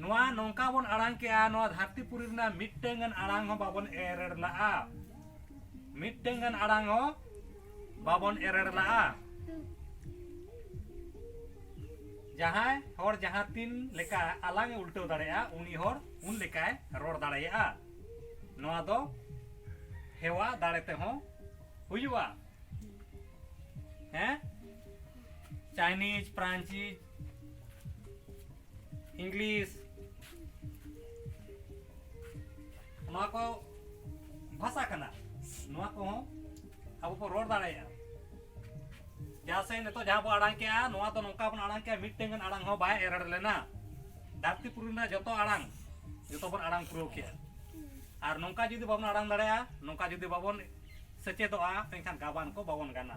ᱱᱚᱣᱟ ᱱᱚᱝᱠᱟ ᱵᱚᱱ ᱟᱲᱟᱝ ᱠᱮᱜᱼᱟ ᱱᱚᱣᱟ ᱫᱷᱟᱹᱨᱛᱤ ᱯᱩᱨᱤ ᱨᱮᱱᱟᱜ ᱢᱤᱫᱴᱟᱝ ᱜᱟᱱ ᱟᱲᱟᱝ ᱦᱚᱸ ᱵᱟᱵᱚᱱ ᱮᱨᱮᱲ ᱞᱟᱜᱼᱟ ᱢᱤᱫᱴᱟᱝ ᱜᱟᱱ ᱟᱲᱟᱝ ᱦᱚᱸ ᱵᱟᱵᱚᱱ ᱮᱨᱮᱲ ᱞᱟᱜᱼᱟ ᱡᱟᱦᱟᱸᱭ ᱦᱚᱲ ᱡᱟᱦᱟᱸ ᱛᱤᱱ ᱞᱮᱠᱟ ᱟᱞᱟᱝ ᱮ ᱩᱞᱴᱟᱹᱣ ᱫᱟᱲᱮᱭᱟᱜᱼᱟ ᱩᱱᱤ ᱦᱚᱲ ᱩᱱ ᱞᱮᱠᱟᱭ ᱨᱚᱲ ᱫᱟᱲᱮᱭᱟᱜᱼᱟ ᱱᱚᱣᱟ ᱫᱚ ᱦᱮᱣᱟ ᱫᱟᱲᱮ ᱛᱮᱦᱚᱸ ᱦᱩᱭᱩᱜᱼᱟ ᱦᱮᱸ ᱪᱟᱭᱱᱤᱡᱽ ᱯᱷᱨᱟᱱᱪᱤᱡᱽ ᱤᱝᱞᱤᱥ ᱱᱚᱣᱟ ᱠᱚ ᱵᱷᱟᱥᱟ ᱠᱟᱱᱟ ᱱᱚᱣᱟ ᱠᱚᱦᱚᱸ ᱟᱵᱚ ᱵᱚ ᱨᱚᱲ ᱫᱟᱲᱮᱭᱟᱜᱼᱟ ᱡᱟᱦᱟᱸ ᱥᱮ ᱱᱤᱛᱚᱜ ᱡᱟᱦᱟᱸ ᱵᱚ ᱟᱲᱟᱝ ᱠᱮᱜᱼᱟ ᱱᱚᱣᱟ ᱫᱚ ᱱᱚᱝᱠᱟ ᱵᱚᱱ ᱟᱲᱟᱝ ᱠᱮᱜᱼᱟ ᱢᱤᱫᱴᱮᱱ ᱜᱟᱱ ᱟᱲᱟᱝ ᱦᱚᱸ ᱵᱟᱭ ᱮᱨᱚᱲ ᱞᱮᱱᱟ ᱫᱷᱟᱹᱨᱛᱤ ᱯᱩᱨᱤ ᱨᱮᱱᱟᱜ ᱡᱚᱛᱚ ᱟᱲᱟᱝ ᱡᱚᱛᱚ ᱵᱚᱱ ᱟᱲᱟᱝ ᱯᱩᱨᱟᱹᱣ ᱠᱮᱜᱼᱟ ᱟᱨ ᱱᱚᱝᱠᱟ ᱡᱩᱫᱤ ᱵᱟᱵᱚᱱ ᱟᱲᱟᱝ ᱫᱟᱲᱮᱭᱟᱜᱼᱟ ᱱᱚᱝᱠᱟ ᱡᱩᱫᱤ ᱵᱟᱵᱚᱱ ᱥᱮᱪᱮᱫᱚᱜᱼᱟ ᱮᱱᱠᱷᱟᱱ ᱜᱟᱵᱟᱱ ᱠᱚ ᱵᱟᱵᱚᱱ ᱜᱟᱱᱟ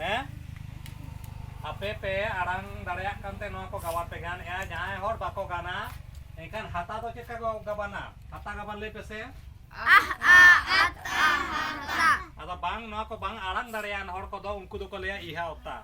ᱦᱮᱸ ᱟᱯᱮ ᱯᱮ ᱟᱲᱟᱝ ᱫᱟᱲᱮᱭᱟᱜ ᱠᱟᱱᱛᱮ ᱱᱚᱣᱟ ᱠᱚ ᱜᱟᱵᱟᱱ ᱯᱮ ᱜᱟᱱᱮᱜᱼᱟ ᱡᱟᱦᱟᱸᱭ ᱦᱚᱲ ᱵᱟᱠᱚ ᱜᱟᱱᱟ ᱮᱱᱠᱷᱟᱱ ᱦᱟᱛᱟ ᱫᱚ ᱪᱮᱫ ᱠᱚ ᱜᱟᱵᱟᱱᱟ ᱦᱟᱛᱟ ᱜᱟᱵᱟᱱ ᱞᱟᱹᱭ ᱯᱮᱥᱮ ᱟᱫᱚ ᱵᱟᱝ ᱱᱚᱣᱟ ᱠᱚ ᱵᱟᱝ ᱟᱲᱟᱝ ᱫᱟᱲᱮᱭᱟᱱ ᱦᱚᱲ ᱠᱚᱫᱚ ᱩᱱᱠᱩ ᱫᱚᱠᱚ ᱞᱟᱹᱭᱟ ᱤᱦᱟ ᱚᱛᱟ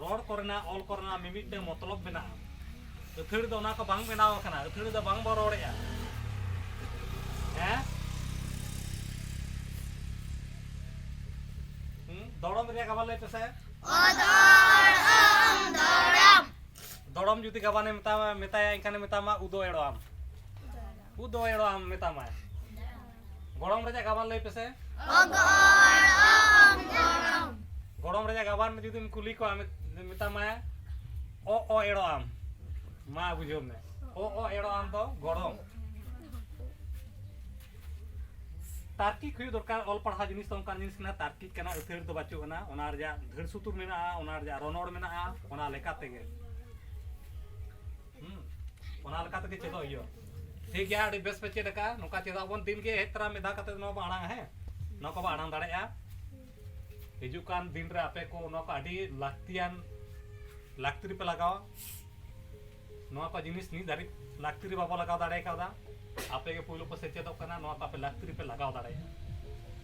ᱨᱚᱲ ᱠᱚᱨᱮᱱᱟᱜ ᱚᱞ ᱠᱚᱨᱮᱱᱟᱜ ᱢᱤᱢᱤᱫᱴᱟᱝ ᱢᱚᱛᱞᱚᱵ ᱢᱮᱱᱟᱜᱼᱟ ᱟᱹᱛᱷᱟᱹᱲᱤ ᱫᱚ ᱚᱱᱟ ᱠᱚ ᱵᱟᱝ ᱵᱮᱱᱟᱣ ᱟᱠᱟᱱᱟ ᱟᱹᱛᱷᱟᱹᱲᱤ ᱫᱚ ᱵᱟᱝ ᱵᱚ ᱨᱚᱲᱮᱜᱼᱟ ᱦᱮᱸ ᱫᱚᱲᱚᱢ ᱨᱮᱭᱟᱜ ᱜᱟᱵᱟᱱ ᱞᱟᱹᱭ ᱯᱮᱥᱮ ᱫᱚᱲᱚᱢ ᱡᱩᱫᱤ ᱜᱟᱵᱟᱱᱮ ᱢᱮᱛᱟᱢᱟ ᱢᱮᱛᱟᱭᱟ ᱮᱱᱠᱷᱟᱱᱮ ᱢᱮᱛᱟᱢᱟ ᱩᱫᱚ ᱮᱲᱚᱣᱟᱢ ᱩᱫᱚ ᱮᱲᱚᱣᱟᱢ ᱢᱮᱛᱟᱢᱟᱭ ᱜᱚᱲᱚᱢ ᱨᱮᱭᱟᱜ ᱜᱟᱵᱟᱱ ᱞᱟᱹᱭ ᱯᱮᱥᱮ ᱜᱚᱲᱚᱢ ᱨᱮᱭᱟᱜ ᱜᱟᱵᱟᱱ ᱡᱩᱫᱤᱢ ᱠᱩᱞᱤ ᱠᱚᱣᱟ ᱢᱮᱛᱟᱢᱟᱭ ᱚ ᱚ ᱮᱲᱚ ᱟᱢ ᱢᱟ ᱵᱩᱡᱷᱟᱹᱣ ᱢᱮ ᱚ ᱚ ᱮᱲᱚ ᱟᱢ ᱫᱚ ᱜᱚᱲᱚᱢ ᱛᱟᱨᱠᱤᱠ ᱦᱩᱭᱩᱜ ᱫᱚᱨᱠᱟর ᱚᱞ ᱯᱟᱲᱦᱟᱣ ᱡᱤᱱᱤᱥ ᱫᱚ ᱚᱱᱠᱟᱱ ᱡᱤᱱᱤᱥ ᱠᱟᱱᱟ ᱛᱟᱨᱠᱤᱠ ᱠᱟᱱᱟ ᱟᱹᱛᱷᱟᱹᱲ ᱫᱚ ᱵᱟᱹᱪᱩᱜ ᱟᱱᱟ ᱚᱱᱟ ᱨᱮᱭᱟᱜ ᱫᱷᱟᱹᱲ ᱥᱩᱛᱩᱨ ᱢᱮᱱᱟᱜᱼᱟ ᱚᱱᱟ ᱨᱮᱭᱟᱜ ᱨᱚᱱᱚᱲ ᱢᱮᱱᱟᱜᱼᱟ ᱚᱱᱟ ᱞᱮᱠᱟ ᱛᱮᱜᱮ ᱚᱱᱟ ᱞᱮᱠᱟ ᱛᱮᱜᱮ ᱪᱮᱫᱚᱜ ᱦᱩᱭᱩᱜᱼᱟ ᱴᱷᱤᱠ ᱜᱮᱭᱟ ᱟᱹᱰᱤ ᱵᱮᱥ ᱯᱮ ᱪᱮᱫ ᱟᱠᱟᱫᱼᱟ ᱱᱚᱝᱠᱟ ᱪᱮᱫᱚᱜ ᱟᱵᱚᱱ ᱫᱤᱱ ᱜᱮ ᱦᱮᱡ ᱛᱚᱨᱟ ᱢᱤᱫ ᱫᱷᱟᱣ ᱠᱟᱛᱮ ᱱᱚᱣᱟ ᱵᱚᱱ ᱟᱲᱟᱝᱟ ᱦᱮᱸ ᱱᱚᱣᱟ ᱠᱚᱵᱚ ᱟᱲᱟᱝ ᱫᱟᱲᱮᱭᱟᱜᱼᱟ ᱦᱤᱡᱩᱜ ᱠᱟᱱ ᱫᱤᱱ ᱨᱮ ᱟᱯᱮ ᱠᱚ ᱱᱚᱣᱟ ᱠᱚ ᱟᱹᱰᱤ ᱞᱟᱹᱠᱛᱤᱭᱟᱱ ᱞᱟᱹᱠᱛᱤ ᱨᱮᱯᱮ ᱞᱟᱜᱟᱣᱟ ᱱᱚᱣᱟ ᱠᱚ ᱡᱤᱱᱤᱥ ᱱᱤᱛ ᱫᱷᱟᱹᱨᱤᱡ ᱞᱟᱹᱠᱛᱤ ᱨᱮ ᱵᱟᱵᱚ ᱞᱟᱜᱟᱣ ᱫᱟᱲᱮ ᱠᱟᱣᱫᱟ ᱟᱯᱮ ᱜᱮ ᱯᱳᱭᱞᱳ ᱯᱮ ᱥᱮᱪᱮᱫᱚᱜ ᱠᱟᱱᱟ ᱱᱚᱣᱟ ᱠᱚ ᱟᱯᱮ ᱞᱟᱹᱠᱛᱤ ᱨᱮᱯᱮ ᱞᱟᱜᱟᱣ ᱫᱟᱲᱮᱭᱟᱜᱼᱟ